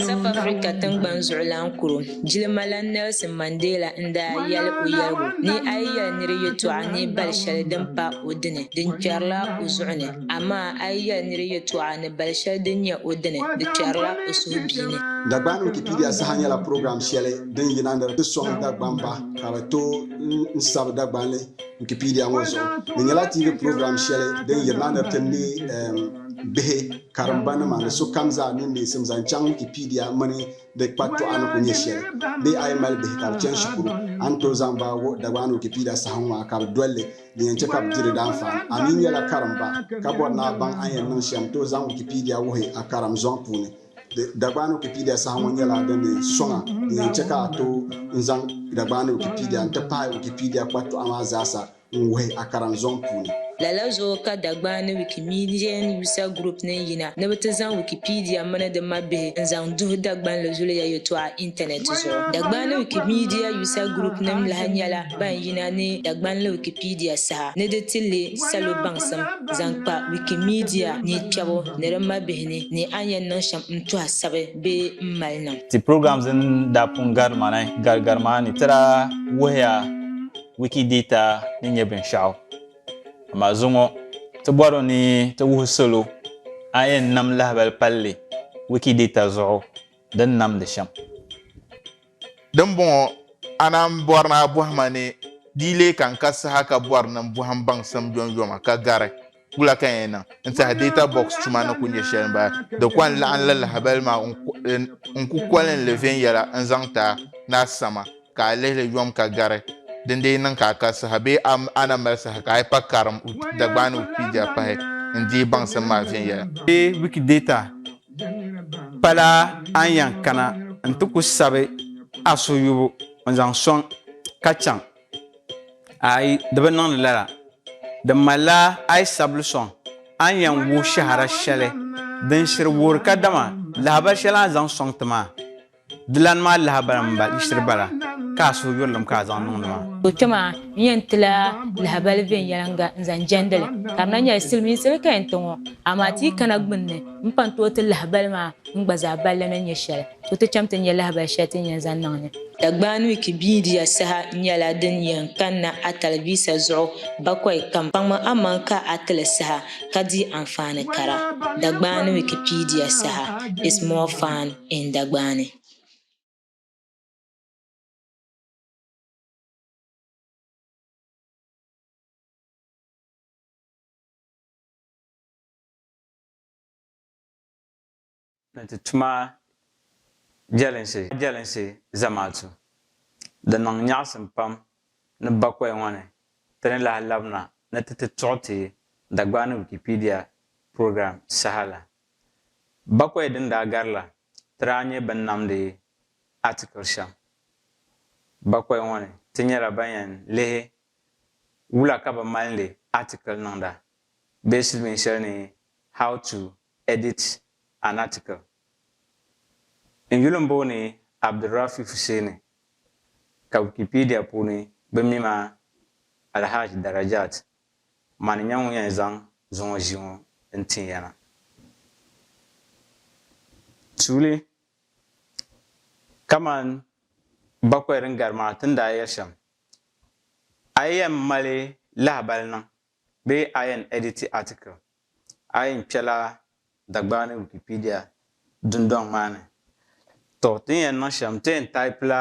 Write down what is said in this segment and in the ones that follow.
South Africa tiŋgbani zuɣulan kuro jilimalana Nelson Mandela n daa yɛli o yɛligu ni a yi yɛli niri yɛtɔɣa ni bali shɛli din pa o dini di kpɛrila o zuɣu ni amaa a yi yɛli niri yɛtɔɣa ni bali shɛli din nyɛ o dini di kpɛrila o suhubiini. Dagbaŋ Wikipedia saha nyɛla program shɛli din yina ni di sɔŋ Dagbamba ka bɛ tooi n sabi Dagbanli. Wikipedia ŋɔ zuɣu di nyɛla TV program shɛli din yiri na ni ti ne bihi karimba nima ni sokam zaa niŋ neesim zaŋ chaŋ Wikipedia mini di kpatɔɣa ni ku nyɛ shɛli. Bee a yi mali bihi ka bi chani shikuru, a ni tooi zaŋ ba wuhi Dagbaŋ Wikipedia saha ŋɔ a ka bi doli li, din yɛn chɛ ka bi di di daanfaani. A mi nyɛla karimba ka bɔri ni a baŋ a ni yɛn niŋ shɛm, tooi zaŋ Wikipedia wuhi a karim zɔŋ puuni. Dagbaani Wikipedia saha ŋɔ nyɛla din ni sɔŋa din yɛn chɛ ka a tooi n-zaŋ Dagbaani Wikipedia n-ti pahi Wikipedia kpatɔɣa maa zaasa n-wuhi a karinzɔŋ puuni. Lala zuɣu ka Dagbaani Wikimedian User Group niŋ yina ni bɛ ti zaŋ Wikipedia mini di mabihi n-zaŋ duhi Dagbanli zuliya yɛtɔɣa intanɛt zuɣu. Dagbaani Wikimedia User Group nim lahi nyɛla ban yina ni Dagbanli Wikipedia saha ni di ti leei salo baŋsim zaŋ kpa Wikimedia ni kpɛbu ni di mabihi. ni ni a ni yɛn niŋ shɛm n-tuhi a sabi bee m-mali niŋ. Ti programs din daa pun gari ma ni gari gari maa ni ti daa wuhiya Wikidata ni nyɛ binshɛɣu. Amaa zuŋɔ ti bɔri ni ti wuhi salo a ni yɛn nam lahibali palli Wikidata zuɣu di ni namdi shɛm. Dimbɔŋɔ, a naan bɔri ni a bɔhi ma ni di yi lee kan ka saha ka bɔri ni n bɔhi m baŋsim yomyoma ka gari wula ka n yɛn niŋ n-tiɛhi Data Box tuma ni ku nyɛ shɛli m-bala. Di kɔŋ laɣim li lahibali maa n ku kɔlim li viɛnyɛla n-zaŋ ti a ni a sama ka a lihi li yom ka gari din dii niŋ ka a ka saha bee a na mali saha ka a yi pa karim Dagbaani Wikipedia pahi n-deei baŋsim maa viɛnyɛla. Bee Wikidata Pala a ni yan kana nti ku sabi a suyubu n-zaŋ sɔŋ ka chaŋ? Aai, di bi niŋdi lala. Di malila a yi sabili sɔŋ, a ni yan wuhi shɛhira shɛli din shiri wuhiri kadama lahibali shɛli a ni zaŋ sɔŋ ti maa. Di lan mali lahabali mini ba yiɣisiri bala ka a suhu yurilim ka a zaŋ niŋdi ma. O kpe maa, n yɛn ti la lahabali viɛnyɛliŋga n-zaŋ jɛndi li. Ka di na nyɛla silimiinsi di ka yɛn ti ŋɔ, amaa ti yi kana gbunni m-pan tooi ti lahabali maa n gba zaa balli ni nyɛ shɛli, to ti cham ti nya lahabali shɛli ti ni yɛn zaŋ niŋ ni. Dagbani wiiki biidiya saha nyɛla din yɛn kanna a talivisa zuɣu bakɔi kam. Kpaŋmi amaŋ ka a ti li saha ka di anfaani kara. Dagbani Wikipedia, Saha is more fun. in Dagbaani. ni ti tuma jelinsi jelinsi zamaatu. Di niŋ nyaɣisim pam ni bakoya ŋɔ ni ti ni lahi labina ni ti ti tuɣi ti Dagbaani Wikipedia program saha la. Bakwai din daa gari la, ti daa nyɛ bɛn namdi atikili shɛm. Bakwai ŋɔ ni, ti nyɛla ban yɛn lihi wula ka bɛ malindi atikili niŋda bee silimiin shɛli ni How to Edit an Article. N yuli m-booni Abdulrafi Fuseni, ka Wikipedia puuni bɛ mi ma Alhaji Darajat Mani n-nyɛ ŋun yɛn zaŋ zuŋɔ ʒii ŋɔ n-tin ya na. Tuuli, Kaman bakɔi din gari maa ti ni daa yɛli shɛm, a yi yɛn mali lahibali niŋ bee a yɛn editi article, a yɛn kpɛla Dagbani Wikipedia dundɔŋ maa ni. Tɔ! Ti ni yɛn niŋ shɛm, ti yɛn taipila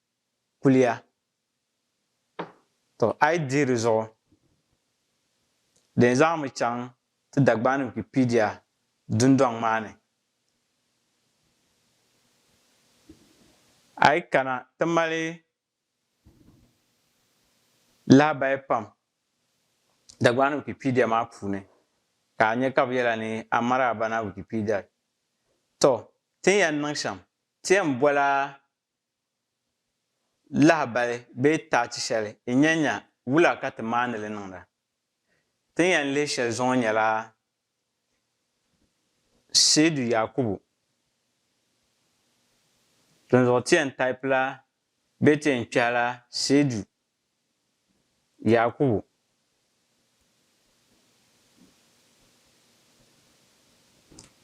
kuliya. To a yi dihi di zuɣu, din zaŋmi chaŋ ti Dagbani Wikipedia dundɔŋ maa ni, a yi kana ti mali lahabaya pam Dagbani Wikipedia maa puuni ka a nya ka bɛ yɛla ni Amara Abana Wikipedia. To, ti ni yɛn niŋ shɛm, ti yɛn bola Lahabali bee taachi shɛli yi nya nya wula ka ti maani li niŋda? Ti ni yɛn lihi shɛli zuɣu nyɛla Seidu Yakubu. Dinzuɣu ti yɛn taipila bee ti yɛn kpɛhila Seidu Yaakubu.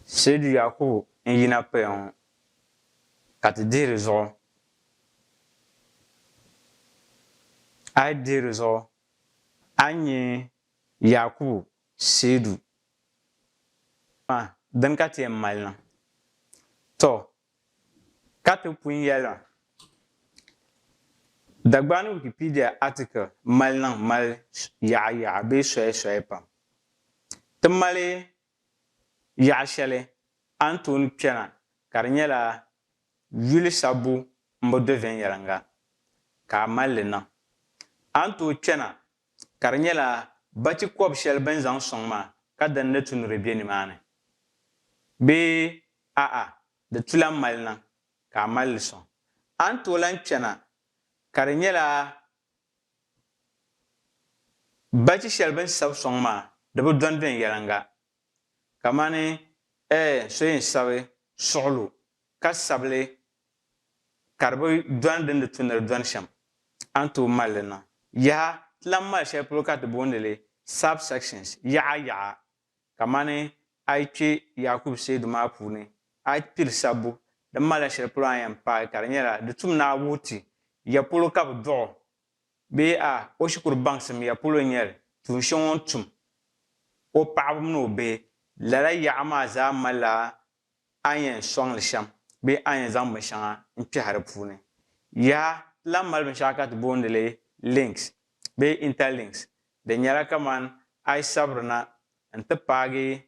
Seedu Yaakubu n-yina paya ŋɔ ka ti dihi di zuɣu. A yi dihi di zuɣu a ni nya Yaakubu seedu maa din ka ti yɛn mali na. Tɔ! Ka ti pun yɛla, Dagbani Wikipedia article mali niŋ mali yaɣa yaɣa bee soya soya pam. Ti mali yaɣa shɛli a ni tooni kpɛna ka di nyɛla yuli sabbu m-bo do viɛnyɛliŋga ka a mali li niŋ. A ni tooi kpɛna ka di nyɛla bachi kɔb shɛli bɛ ni zaŋ sɔŋ maa ka din ni tu ni di be nimaani bee a'a di tu lan mali niŋ ka a mali li sɔŋ. A ni tooi lan chana ka di nyɛla bachi shɛli bɛ ni sabi sɔŋ maa di bi dɔndɔni yɛliŋga kamani ɛɛ so yɛn sabi suɣulo ka sabili ka di bi dɔni din di tu ni di dɔni shɛm, a ni tooi mali li niŋ. Yaha! Ti lahi mali shɛli polo ka ti booni li subsections, yaɣa yaɣa. Kamani a yi kpe Yakubu seedu maa puuni, a yi piri sabbu, di malila shɛli polo a ni yɛn paai ka di nyɛla di tum ni a wuhi ti ya polo ka bi dɔɣi o Bee a o shikuru baŋsim ya polo n-nyɛ li, tuun shɛŋa o ni tum o paɣiba mini o bihi? Lala yaɣa maa zaa malila a ni yɛn sɔŋ li shɛm bee a ni yɛn zaŋ binshɛŋa n-kpɛhi di puuni. Yaha! Ti lahi mali binshɛɣu ka ti booni li links bee interlinks. Di nyɛla kamani a yi sabiri na n-ti paagi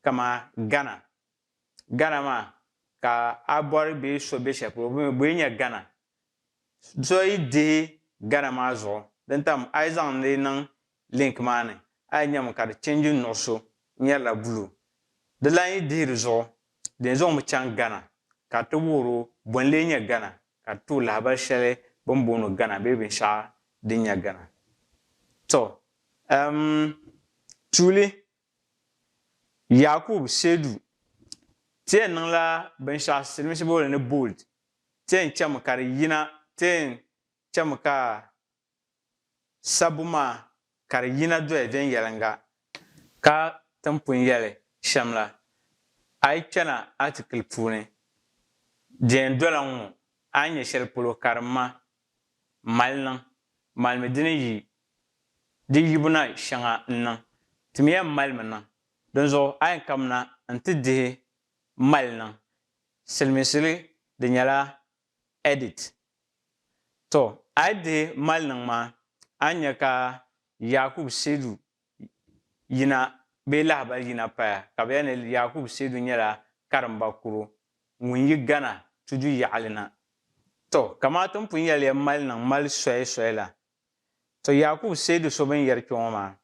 kamani Ghana. Ghana maa ka a bɔri bee so be shɛli polo, bɛ yi nya Ghana Dɔyi dihi gana maa zuɣu din tam a yi zaŋ di niŋ link maa ni a yi nyami ka di change nuɣuso n nyɛrila blue. Di lan yi dihi di zuɣu din zaŋ mi chaŋ gana ka di ti wuhiri o bɔ n lee nyɛ gana ka di ti o lahabali shɛli bɛ ni booni gana bee binshɛɣu din nyɛ gana. To um tuuli Yakubu Seidu ti yɛn niŋla binshɛɣu silimiinsi booli ni bold. Tee chami ka di yina, tee chami ka sabbu maa ka di yina doya viɛnyɛliŋga ka ti ni pun yɛli shɛm la, a yi kpɛna atikili puuni, di yɛn dola n ŋɔ, a ni nya shɛli polo ka di ma m mali niŋ, malimi di ni yi di yibu na shɛŋa n-niŋ, ti mi yɛn malimi niŋ, dinzuɣu a yɛn kamina nti dihi mali niŋ, Siliminsili di nyɛla edit. To a yi dihi maliniŋ maa a ni nya ka Yakubu Seidu yina bee lahibali yina paya ka bɛ yɛli ni Yakubu Seidu nyɛla karimba kuro ŋun yi Ghana tudu yaɣili na. To kamaa ti ni pun yɛli ya maliniŋ mali soya soya la. To Yakubu Seidu so bɛ ni yɛri kpe ŋɔ maa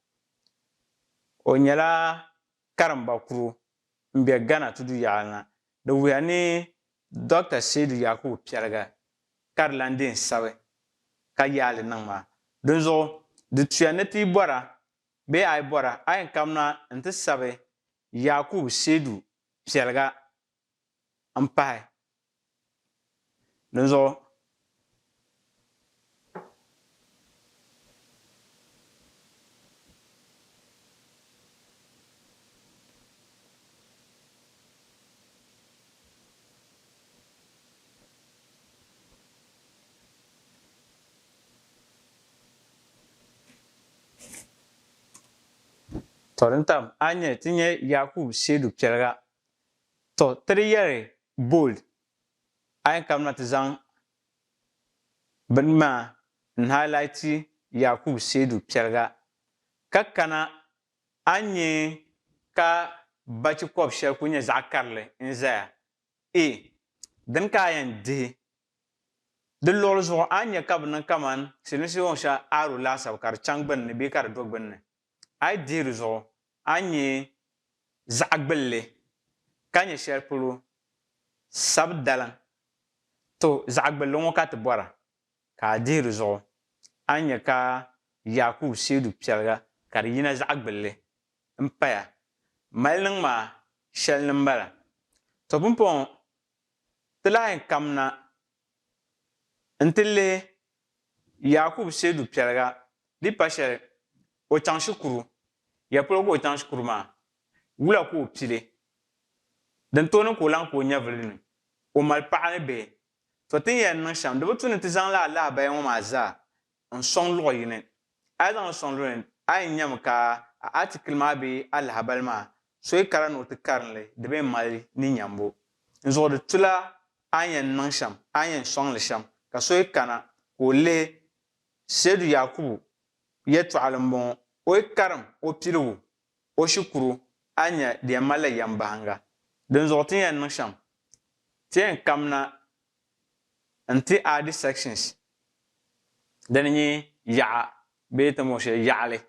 o nyɛla karimba kuro m-be Ghana tudu yaɣili na, di wuhiya ni Dɔkta Seidu Yakubu Piɛliga ka di lan deei sabi ka yaai li niŋ maa. Dinzuɣu, di tuya ni ti yi bɔra bee a yi bɔra, a yɛn kamina nti sabi Yakubu Seidu Piɛliga. m-pahi. Dinzuɣu To din tam a ni nyɛ ti nyɛ Yaakubu Seedu Piɛliga To ti di yɛri bold a yɛn kabina ti zaŋ bini maa n highlighti Yakubu Seidu Piɛliga ka kana a ni nyɛ ka bachi kɔb shɛli kuli nyɛ zaɣ karili n zaya e dini ka a yɛn dihi. Di luɣili zuɣu a ni nya ka bi niŋ kaman silimiinsi yɔɔn shɛli aro laasabu ka di chaŋ gbunni bee ka di do gbunni. A yi dihi di zuɣu, a ni nya zaɣ gbilli, ka nya shɛli polo sabi daliŋ. To, zaɣ gbilli ŋɔ ka ti bɔra, ka a dihi di zuɣu, a ni nya ka Yaakubu seedu piɛliga ka di yina zaɣ gbilli m-paya. Mali niŋ maa shɛli ni m-bala. To pumpɔŋɔ, ti lahi kamina N-ti leei Yaakubu Seedu piɛliga di pa shɛli o chaŋ shikuru, ya polo ka o chaŋ shikuru maa? Wula ka o pili? Din tooni ka o lahi ka o nyɛvili ni o mali paɣa ni bihi? To tin yɛn niŋ shɛm di bi tu ni ti zaŋ laa lahabaya ŋɔ maa zaa N sɔŋ luɣ yini. A yi zaŋ n sɔŋ luɣ yini, a yɛn nyami ka a atikili maa bee a lahabali maa soyi kara ni o ti karin li, di bee mali ni nyambu. N zuɣu di tu la a ni yɛn niŋ shɛm, a ni yɛn sɔŋ li shɛm, ka so yi kana ka o lihi Seydu Yaakubu yɛtɔɣili m-bɔŋɔ, o yi karim o piligu, o shikuru, a ni nya di yɛn mali la yɛmbahinga. Dinzuɣu ti ni yɛn niŋ shɛm, ti yɛn kamina n ti add sections din nyɛ yaɣa bee ti mo shɛli yaɣali.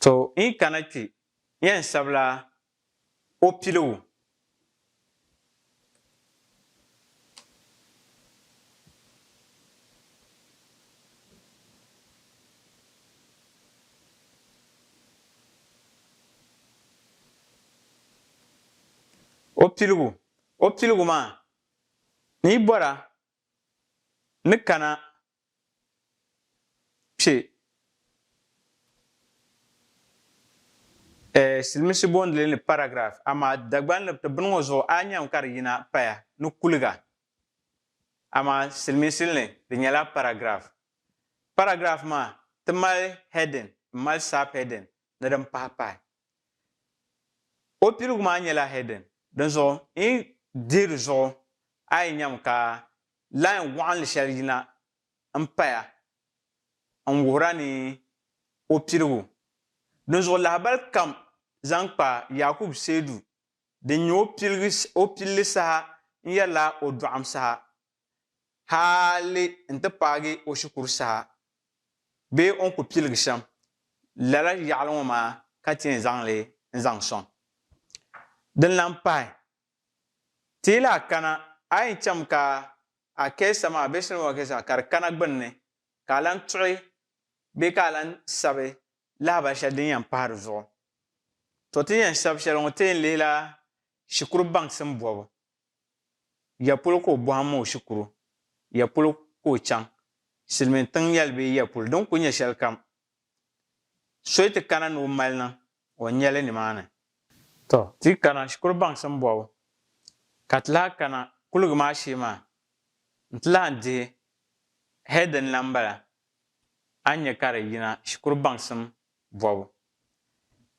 To yi kana kpe yɛn sabila o piligu O piligu, O piligu maa, ni yi bɔra ni kana kpe Silimiinsi boondili ni paragraph, amaa Dagban ni ti bini ŋɔ zuɣu a nyami ka di yina paya ni kuliga, amaa Silimiinsi ni di nyɛla paragraph. Paragraph maa ti mali heading m-mali subheading ni din pahi pahi. O piligu maa nyɛla heading, dinzuɣu n yi dihi di zuɣu a yi nyami ka line waɣinli shɛli yina n paya n wuhira ni o piligu. Dinzuɣu lahabali kam zaŋ kpa Yakubu Seidu din nyɛ o pilli saha n yɛrila o dɔɣim saha hali n-ti paagi o shikuru saha bee o ni ku piligi shɛm lala yaɣili ŋɔ maa ka ti yɛn zaŋ li n-zaŋ sɔŋ. Din lan pahi, ti yi lahi kana a yɛn cham ka a kɛɛsa maa bee soli ŋɔ kɛɛsa ka di kana gbunni ka a lan tuɣi bee ka a lan sabi lahibal shɛli din yɛn pahi di zuɣu. To ti ni yɛn sabi shɛli ŋɔ ti yɛn lihila shikuru baŋsim bɔbu Ya polo ka o bɔhim o shikuru, ya polo ka o chaŋ, silimiin tiŋ yɛli bee ya polo din kuli nyɛ shɛlikam, so yi ti kana ni o mali niŋ o nya li nimaani. Tɔ! Ti yi kana shikuru baŋsim bɔbu, ka ti lahi kana kuligi maa shee maa, n-ti lahi dihi hee din lan bala, a ni nya ka di yina shikuru baŋsim bɔbu.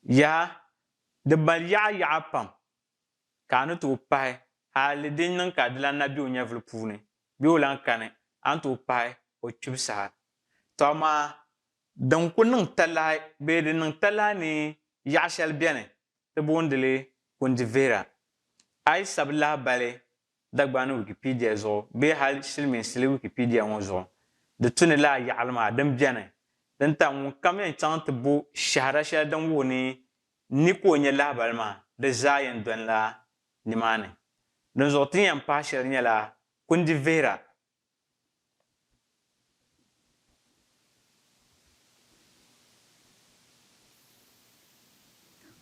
Yaha! Di mali yaɣa yaɣa pam, ka a ni tooi pahi hali din niŋ ka a di lan na be o nyɛvili puuni bee o lan kani, a ni tooi pahi o kpibu saha. Tɔ amaa din ku niŋ talahi bee din niŋ talahi ni yaɣ shɛli beni, ti boondi li kundi vihira. A yi sabi lahibali Dagbani Wikipedia zuɣu bee hal silimiinsili Wikipedia ŋɔ zuɣu di tu ni laa yaɣili maa din beni din tam ŋunkam yɛn chaŋ nti bo shɛhira shɛli din wuhi ni ni ka o nya lahibali maa di zaa yɛn dɔni la nimaani. Dinzuɣu ti ni yɛn pahi shɛli nyɛla kundi vihira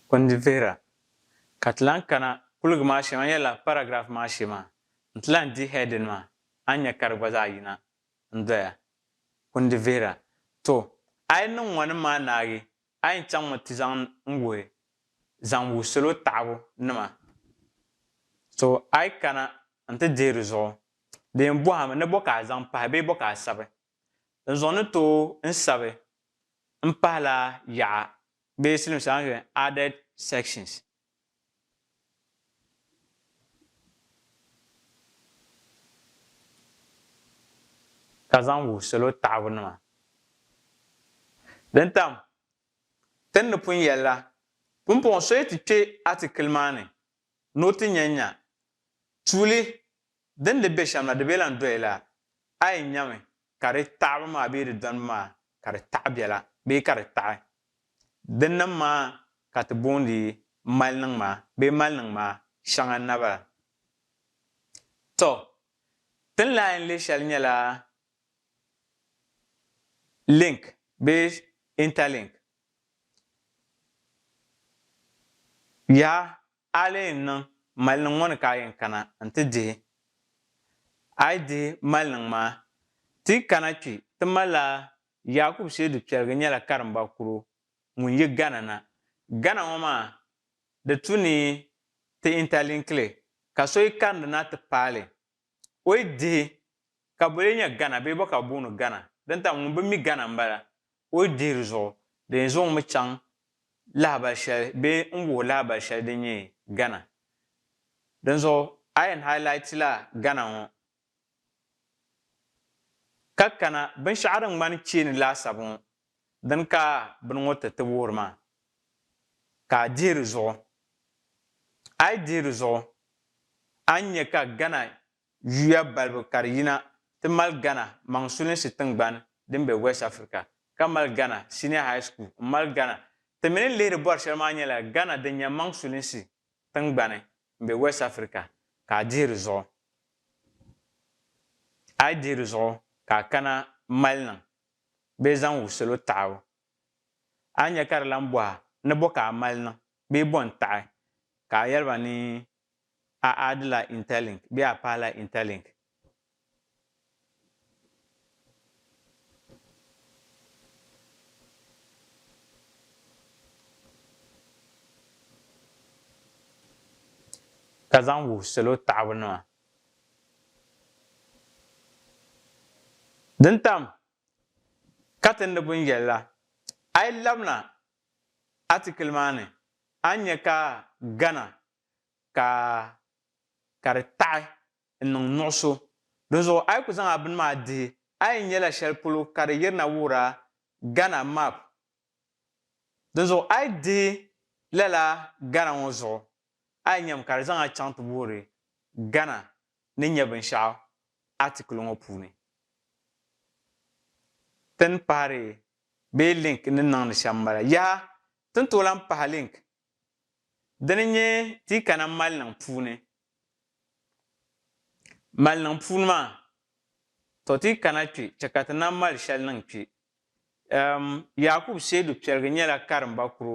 Kundi vihira ka ti lahi kana kuliga maa shee maa n-yɛla paragraph maa shee maa n-ti lahi di heading maa a ni nya ka di gba zaa yina n-doya. Kundi vihira, To, a yi niŋ ŋɔnim maa naagi A yi chaŋmi ti zaŋ n wuhi zaŋ wuhi salo taɣibu nima so a yi kana n ti dihi di zuɣu di yɛn bɔhimi ni bɔ ka a zaŋ pahi bee bɔ ka a sabi n zuɣu ni tooi n sabi m pahila yaɣa bee silimiinsi a ni yɛli added sections. ka zaŋ wuhi salo taɣibu nima. Din tam, Ti ni pun yɛli la, pumpɔŋɔ so yi ti kpe atikili maa ni ni o ti nya nya tuuli din di be shɛm la di be lan doyila, a yi nyami ka di taɣibu maa bee di dɔnibu maa ka di taɣi bɛla bee ka di taɣi din niŋ maa ka ti boondi maliniŋ maa bee maliniŋ maa shɛŋa naba la. Tɔ! Ti ni lahi yɛn lihi shɛli nyɛla link bee interlink. Yaha! A lee yɛn niŋ maliniŋ ŋɔ ni ka a yɛn kana n-ti dihi? A yi dihi maliniŋ maa, ti yi kana kpi, ti ma laa Yakubu Shaidu Kpɛrigi nyɛla karimba kuro ŋun yi Ghana na. Ghana ŋɔ maa, di tu ni ti interlinkli, ka so yi karindi na ti paali O yi dihi ka bo lee nyɛ Gana bee bo ka bɛ booni Gana? Din tam ŋun bi mi Gana m-bala. O yi dihi di zuɣu, di yɛn zaŋ o mi chaŋ lahabali shɛli bee n-wuhi lahabali shɛli din nyɛ Gana. Dinzuɣu a yɛn hailaitila Gana ŋɔ ka kana binshɛɣu din ŋmani cheeni laasabu ŋɔ Dini ka bini ŋɔ ti ti wuhiri maa? Ka a dihi di zuɣu. A yi dihi di zuɣu, a ni nya ka Ghana yuya balibu ka di yina ti mali Ghana maŋsulinsi tiŋgbani din be West Africa, ka mali Ghana Senior High School m-mali Ghana. Ti mi ni lihiri bɔri shɛli maa nyɛla Ghana din nya maŋsulinsi tiŋgbani m-be West Africa, ka a dihi di zuɣu. A yi dihi di zuɣu, ka a kana m-mali niŋ. bee zaŋ wuhi salo taɣibu. A ni nya ka di lan bɔh a ni bɔ ka a mali niŋ bee bɔ n-taɣi ka a yɛli ba ni a aadila Interlink bee a pahila Interlink. ka zaŋ wuhi salo taɣibu nima. Din tam katindi buni yɛli la, a yi labina atikili maa ni, a ni nya ka gana ka ka di taɣi n-niŋ nuɣiso. Dinzuɣu a yi ku zaŋ a bini maa dihi, a yi nyɛla shɛli polo ka di yirina wuhira Ghana map. Dinzuɣu a yi dihi lala gana ŋɔ zuɣu, A yi nyami ka di zaŋ a chaŋ ti boori Ghana ni nya binshɛɣu atikili ŋɔ puuni. Tini pahiri bee link ni niŋdi shɛm m-bala. Yaha! Ti ni tooi lan pahi link dini n-nyɛ ti yi kana maliniŋ puuni. Maliniŋ puuni maa, tɔ ti yi kana kpe chɛ ka ti nam mali shɛli niŋ kpe. Ɛm Yakubu Seidu Piɛligi nyɛla karimba kuro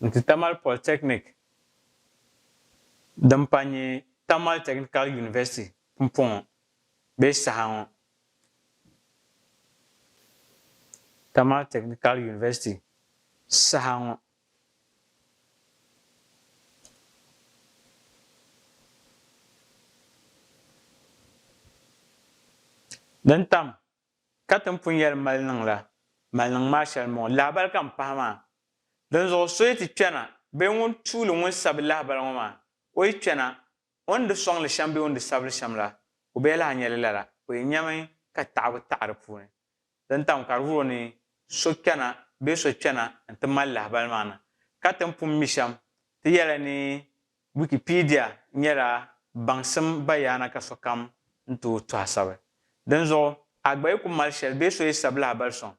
Nti Tamale Polytechnic din pa nyɛ Tamale Technical University pumpɔŋɔ bee saha ŋɔ. Tamale Technical University saha ŋɔ. Din tam. ka tin pun yɛli maliniŋ la, maliniŋ maa shɛli m-bɔŋɔ, lahibali ka m pahi maa. Dinzuɣu so yi ti kpɛna bee ŋun tuuli ŋun sabi lahibali ŋɔ maa, o yi kpɛna, o ni di sɔŋ li shɛm bee o ni di sabi li shɛm la, o bee lahi nya li lala, o yi nyami ka taɣibu taɣi di puuni. Din tam ka di vuri o ni so kpɛna bee so kpɛna nti mali lahibali maa na, ka tin pun mi shɛm, ti yɛli ni Wikipedia nyɛla baŋsim bayaana ka sokam n tooi tɔha sabi. Dinzuɣu, Agba yi ku mali shɛli bee so yi sabi lahabali sɔŋ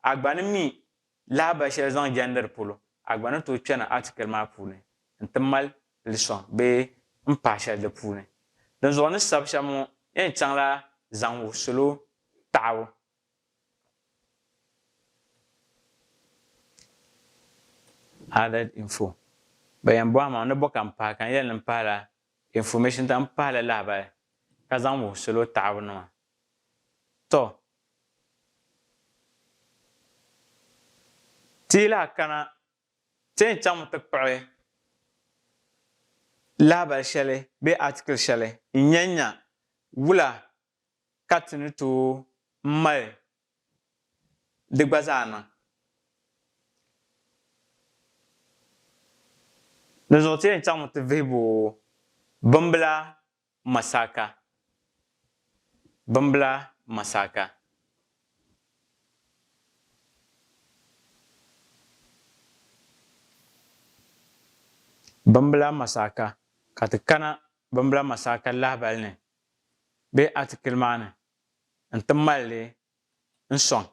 Agba ni mi lahabali shɛli zaŋ jɛndiri polo, Agba ni tooi kpɛni atikili maa puuni nti mal li sɔŋ bee n paai shɛli di puuni. Dinzuɣu ni sabi shɛm ŋɔ yɛn chaŋla zaŋ wuhi salo taɣibu Added info Ba yɛn bɔhi ma ni bo ka m-pahi ka n yɛli ni m-pahila information dam pahila lahibali ka zaŋ wuhi salo taɣibu nima. Tɔ! Ti yi lahi kana ti yɛn chaŋmi ti kpuɣi lahibali shɛli bee article shɛli n-nya nya wula ka ti ni tooi mali di gba zaa niŋ. Dinzuɣu ti yɛn chaŋmi ti vihibu bimbila Masaka. Bimbila Masaka. Bimbila Masaka, ka ti kana Bimbila Masaka lahibali ni. bee atikili maa ni n-ti mali li n-sɔŋ.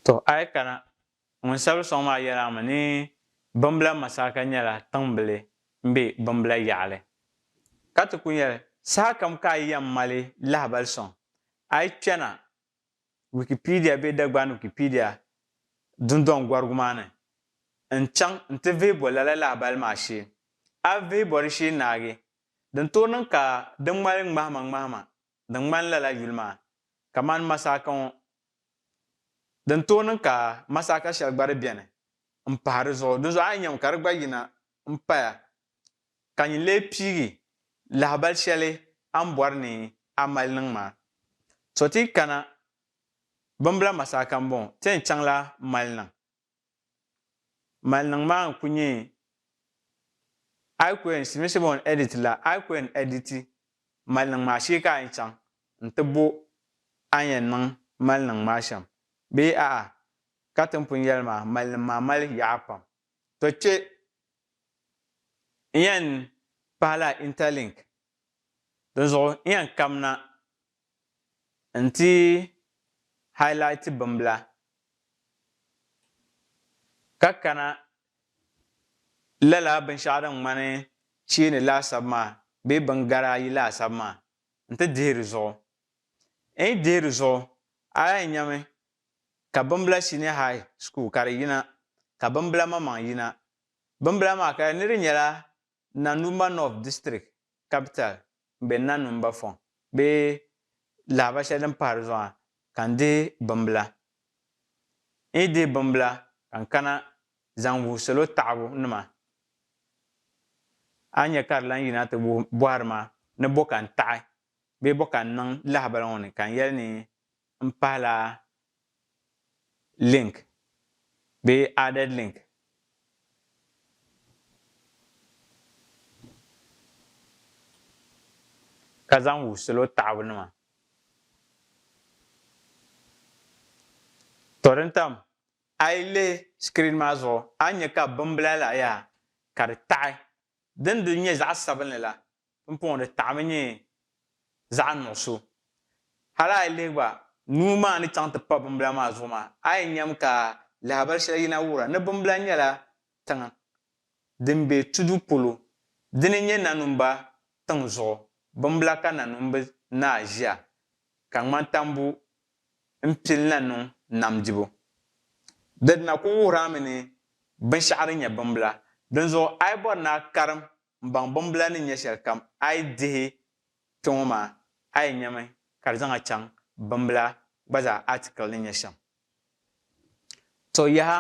Tɔ a yi kana, ŋun sabiri sɔŋ maa yɛl a mi ni Bimbila Masaka nyɛla tiŋbili m-be Bimbila yaɣili, ka ti ku yɛli, Sahakam ka a yi yɛn mali lahibali sɔŋ, a yi kpɛna Wikipedia be Dagbani Wikipedia dundɔŋ gɔrigu maa ni n chaŋ n ti vihi bɔ lala lahabali maa shee. A vihi bɔ di shee naagi, din tooi niŋ ka di ŋmali ŋmahima ŋmahima din ŋmani lala yuli maa, kamani masaaka ŋɔ. Din tooi niŋ ka masaaka shɛli gba di beni m-pahi di zuɣu, dinzuɣu a yi nyami ka di gba yina m-paya ka nyin lee piigi lahabal shɛli a ni bɔri ni a mali niŋ maa. To ti yi kana bimbila masaaka m-bɔŋɔ, ti yɛn chaŋla maliniŋ. Maliniŋ maa n-kuli nyɛ a yi ku yɛn si mishili bɔŋɔ ni edit la, a yi ku yɛn editi maliniŋ maa shee ka a yɛn chaŋ n-ti bo a ni yɛn niŋ maliniŋ maa shɛm bee a'a ka ti ni pun yɛli maa, maliniŋ maa mali yaɣa pam. To kpe n yan pahi la interlink dinzuɣu n yan kamna n ti highlight bimbila ka kana lala binshɛɣu din ŋmani cheeni laasabu maa bee bin gari ayi laasabu maa n ti dihi di zuɣu. N yi dihi di zuɣu a yan nyami ka bimbila senior high school ka di yina ka bimbila maŋmaŋ yina. Bimbila maa ka ni di nyɛla Nanumba North District capital m-be Nanumba Fong bee lahiba shɛli din pahi di zuɣu maa ka n dihi bimbila. N yi dihi bimbila ka n kana zaŋ wuhi salo taɣibu nima a ni nya ka di lan yina ti bɔhiri ma ni bɔ ka n taɣi bee bɔ ka n niŋ lahibali ŋɔ ni ka n yɛli ni n pahi la link bee added link. Ka zaŋ wuhi salo taɣibu nima. To din tam a yi lihi screen maa zuɣu a ni nya ka bimbila la yaa ka di taɣi din di nyɛ zaɣi sabinli la Pumpɔŋɔ di taɣimi nyɛ zaɣ nuɣiso. Hal a yi lihi gba, nuu maa ni chaŋ ti pa bimbila maa zuɣu maa, a yi nyam ka lahabali shɛli yina wuhira ni bimbila nyɛla tiŋ din be tudu polo. Dini n-nyɛ nanumba tiŋ zuɣu bimbila ka nanumbi naa ʒia ka ŋmani tambu m-pili na niŋ nam dibu. Di dina kul wuhir a mi ni binshɛɣu din nyɛ bimbila. Dinzuɣu a yi bɔri ni a karim m baŋ bimbila ni nyɛ shɛlikam a yi dihi kpe ŋɔ maa, a yi nyami ka di zaŋ a chaŋ bimbila gba zaa article ni nyɛ shɛm. To yaha!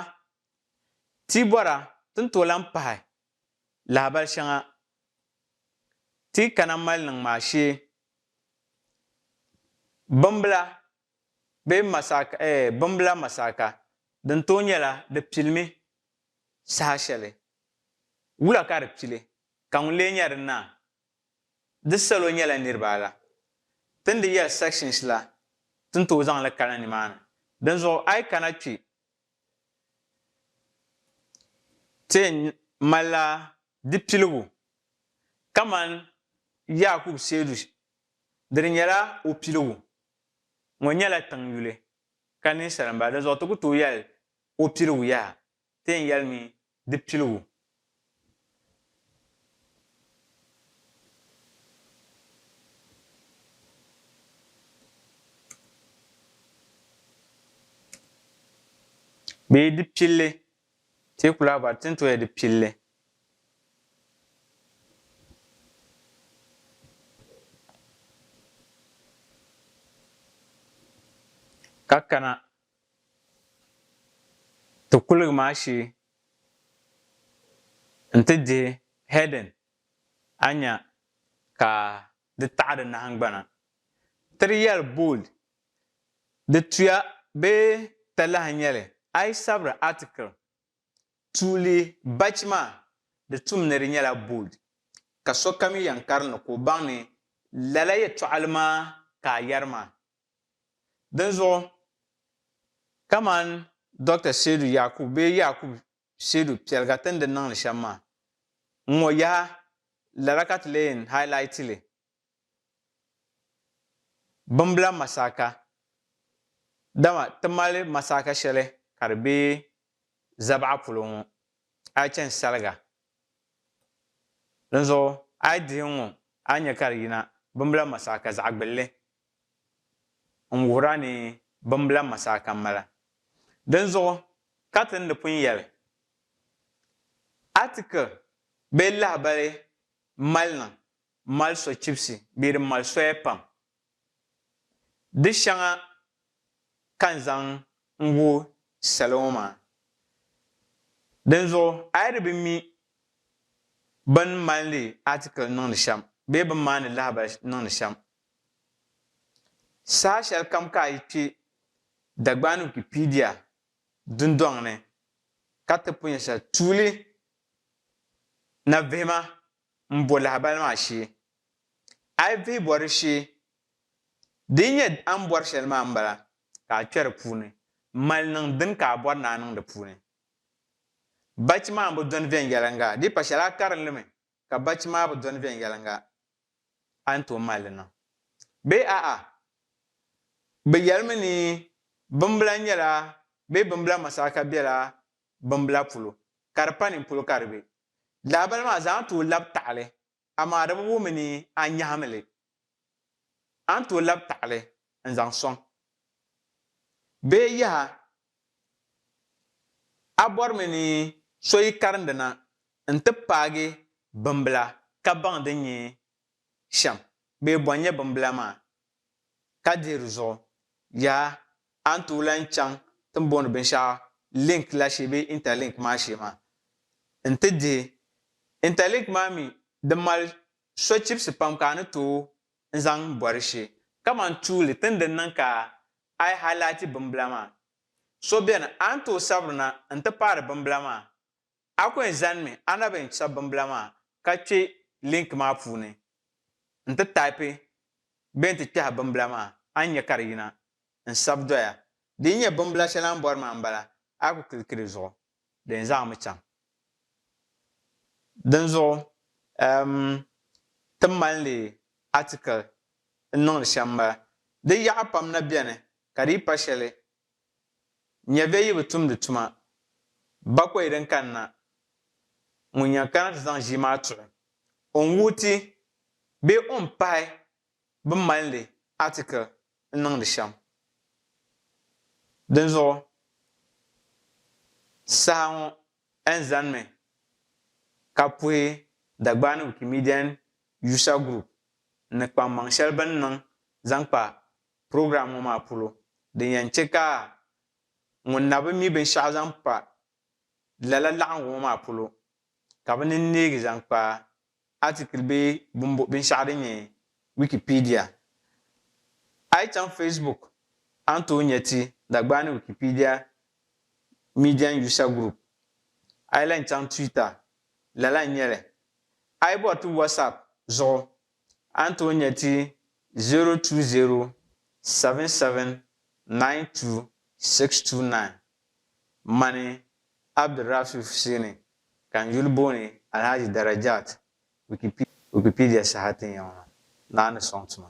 Ti yi bɔra ti ni tooi lahi pahi lahabali shɛŋa ti yi kana mali niŋ maa shee, bimbila bee masaka, eh, bimbila masaka, din tooi nyɛla di pilimi saha shɛli. Wula ka di pili, ka ŋun lee nya di naa? Di salo nyɛla niriba ala. Ti ni di yɛli sections la, ti ni tooi zaŋ li kana nimaani. Dinzuɣu a yi kana kpi, ti yɛn malila di piligu kamani Yaakubu Seedu dini nyɛla o piligu. ŋɔ nyɛla tiŋ yuli ka ninsala m-bala dinzuɣu ti ku tooi yɛli o piligu yaha ti yɛn yɛlimi di piligu. Bee di pilli. Teeku laa ba tin tooi di pilli. Ka kana ti kuligi maa shee nti dihi heading a nya ka di taɣi di nahingbana. Tiri yɛli bold Di tuya bee talahi nyɛli, a yi sabiri article, tuuli bachi maa, di tum ni di nyɛla bold, ka sokam yi yɛn karinli ka o baŋ ni lala yɛtɔɣili maa ka a yɛri maa. Dinzuɣu, kamani Doctor Seidu Yakubu bee Yakubu Seidu piɛliga ti ni di niŋ li shɛm maa, ŋ-ŋɔ yaha lala ka ti lee yɛn highlight li Bimbila masaaka, dama ti mali masaaka shɛli ka di be zabaɣa polo ŋɔ, a yi chani saliga. Dinzuɣu a yi dihi n ŋɔ, a ni nya ka di yina bimbila masaaka zaɣ gbilli n-wuhir a ni bimbila masaaka m-mala. Dinzuɣu ka ti ni di pun yɛli, Article bee lahibali mali niŋ mali sochibisi bee di mali soya pam. Di shɛŋa ka n zaŋ n-wuhi salo ŋɔ maa. Dinzuɣu a yi di bi mi bɛ ni malindi article niŋdi shɛm bee bɛ ni maani lahabali niŋdi shɛm, saha shɛli kam ka a yi kpe Dagbani Wikipedia dundɔŋ ni ka ti pun nya shɛli, tuuli na vihima m bo lahabali maa shee. A yi vihi bori shee, di yi nyɛ a ni bori shɛli maa m-bala, ka a kpɛri puuni m-mali niŋ din ka a bori ni a niŋ di puuni. Bachi maa bi dɔni viɛnyɛliŋga, di yi pa shɛli a karin li mi ka bachi maa bi dɔni viɛnyɛliŋga, a ni tooi mali li niŋ. Bee a'a, bɛ yɛli mi ni bimbila nyɛla bee bimbila masaraka bela bimbila polo, ka di pa nini polo ka di be. Lahabali maa zaa a ni tooi labi taɣili, amaa di bi wum ni a nyahim li. A ni tooi labi taɣili n-zaŋ sɔŋ. Bee yaha! A bɔrimi ni so yi karindi na nti paagi bimbila ka baŋ din nyɛ shɛm bee bɔ n-nyɛ bimbila maa Ka dihi di zuɣu, yaa a ni tooi lahi chaŋ ti ni booni binshɛɣu link la shee bee interlink maa shee maa n-ti dihi. Interlink maa mi di mali sochibisi pam ka a ni tooi n zaŋ bɔri shee. Kamani tuuli ti ni di niŋ ka a yi highlighti bimbila maa, so beni a ni tooi sabirina n-ti paari bimbila maa A ku yɛn zanimi a na bɛn chabi bimbila maa ka kpe link maa puuni n ti taipi bɛn ti kpɛhi bimbila maa a ni nya ka di yina n sabi doya. Di yi nyɛ bimbila shɛli a ni bɔri maa m-bala, a ku kiliki di zuɣu di yɛn zaŋmi chaŋ. Dinzuɣu um ti mali li article n-niŋdi shɛm m-bala. Di yaɣa pam na beni ka di yi pa shɛli Nya bɛ yi bi tumdi tuma, bakɔi din kanna ŋun yɛn kana ti zaŋ ʒii maa tuɣi o n-wuhi ti bee o ni pahi bɛ malindi article n-niŋdi shɛm. Dinzuɣu, saha ŋɔ N zanimi ka puhi Dagbani Wikimedian User Group ni kpaŋmaŋ shɛli bɛ ni niŋ zaŋ kpa program ŋɔ maa polo din yɛn chɛ ka ŋun na bi mi binshɛɣu zaŋ pa lala laɣingu ŋɔ maa polo ka bɛ ni neegi zaŋ kpa article bee binshɛɣu din nyɛ Wikipedia. A yi chaŋ Facebook a ni tooi nya ti Dagbani Wikipedia Median User Group. A yi lahi chaŋ Twitter lala n-nyɛ li. A yi bɔri ti WhatsApp zuɣu A ni tooi nya ti 020 7792 629. Mani Abdirrafi Hussaini ka n yuli booni Alhaji Darajat Wikipedia saha ti nya ŋɔ maa, naa ni sɔŋ tuma.